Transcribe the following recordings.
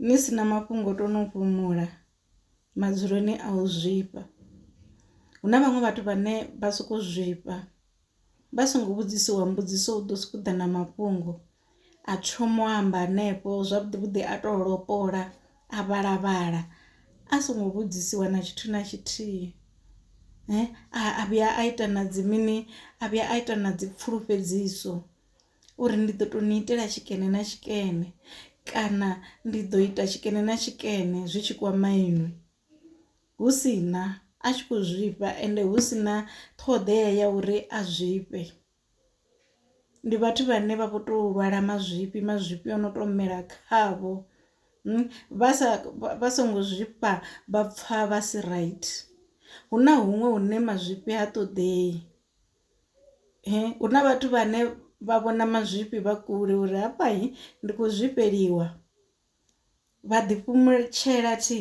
Ni si na mafhungo to no fhumula madzuloni a u zwifha. Hu na vhaṅwe vhathu vhane vha soko zwifha vha songo vhudzisiwa mbudziso u ḓo soko ḓa na mafhungo a thoma u amba hanefho zwavhuḓi vhuḓi a to lopola a vhala vhala a songo vhudzisiwa na tshithu na tshithihi. A vhuya a ita na dzi mini a vhuya a ita na dzi pfulufhedziso. uri ndi ḓo tou ni itela tshikene na tshikene kana ndi ḓo ita tshikene na tshikene zwi tshi kwama inwi hu si na a tshi khou zwifha ende hu si na ṱhoḓea ya uri a zwifhe. Ndi vhathu vhane vha vho to lwala mazwifhi mazwifhi o no to mela khavho vha sa vha songo zwifha vha pfha vha si right hu na huṅwe hune mazwifhi ha ṱoḓei. Hu na vhathu vhane vha vhona mazwifhi vha kule uri hafha ndi khou zwifheliwa vha ḓi fhumutshela thi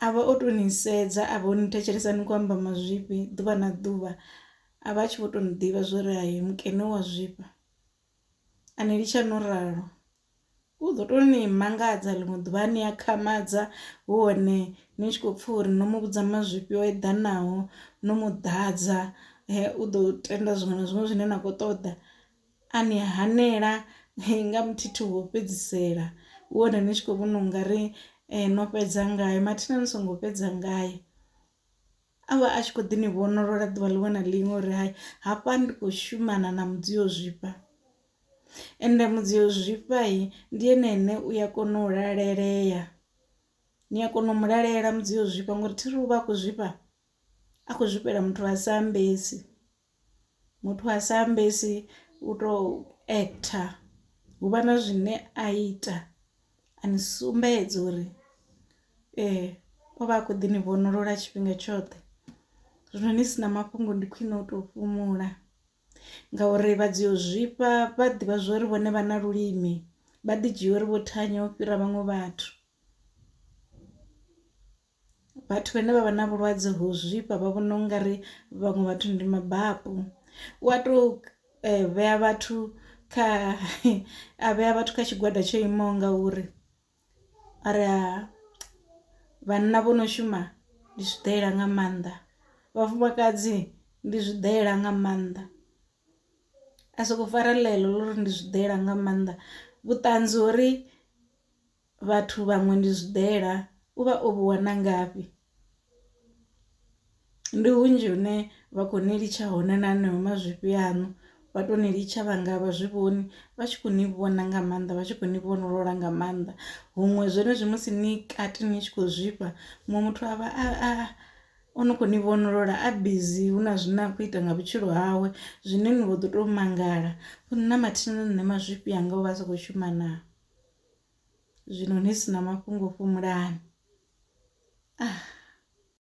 avha o to ni sedza a vha o ni thetshelesa ni kho amba mazwifhi ḓuvha na ḓuvha a vha a tshi vho to ni ḓivha zwori hai mukene u a zwifha a ni litsha no ralo. U ḓo tou ni mangadza ḽiṅwe ḓuvha a ni akhamadza hu hone ni tshi khou pfha uri no mu vhudza mazwifhi o eḓanaho no mu ḓadza u ḓo tenda zwiṅwe na zwiṅwe zwine na khou ṱoḓa a ni hanela nga muthithi wo fhedzisela hu hone ni tshi khou vhona ungari no fhedza ngayo mathina ni songo fhedza ngayo. A vha a tshi khou ḓi ni vhonolola ḓuvha ḽiṅwe na ḽiṅwe uri hai hafha ndi khou shumana na mudzio zwifha ende mudzio zwifha ndi ene ane u ya kona u lalelea ni a kona u mu lalela mudzio zwifha ngori thi ri u vha a khou zwifha a khou zwifhela muthu a sa ambesi. muthu a sa ambesi u to actor hu vha na zwine a ita a ni sumbedza uri o vha a kho ḓi ni vhonolola tshifhinga tshoṱhe. Zwino ni si na mafhungo ndi khwine u to fhumula ngauri vha dzi u zwifha vha ḓivha zwori vhone vha na lulimi vha ḓi dzhia uri vho thanya u fhira vhaṅwe vhathu. Vhathu vhane vha vha na vhulwadze ho zwifha vha vhona ungari vhaṅwe vhathu ndi mabapu u a to vhea vhathu kha a vhea vhathu kha tshigwada tsho imaho nga uri a ri a vhanna vho no shuma ndi zwiḓalela nga maanḓa vhafumakadzi ndi zwiḓalela nga maanḓa. A soko fara ḽeḽo ḽa uri ndi zwiḓalela nga maanḓa vhuṱanzi hori. Vhathu vhaṅwe ndi zwiḓela u vha o vhu wana ngafhi? Ndi hunzhi hune vha khou ni litsha hone na haneyo mazwifhi aṋu vha to ni litsha vhanga vha zwi vhoni vha tshi kho ni vhona nga maanḓa vha tshi kho ni vhofholola nga maanḓa huṅwe zwenezwi musi ni kati ni tshi khou zwifha muṅwe muthu a vha a u no kho ni vhofholola a bizi hu na zwine a khou ita nga vhutshilo hawe zwine ni vho ḓi to mangala uri na mathina na nṋe mazwifhi anga o vha a sa kho shuma naa. Zwino ni si na mafhungo fhumulani. Ah.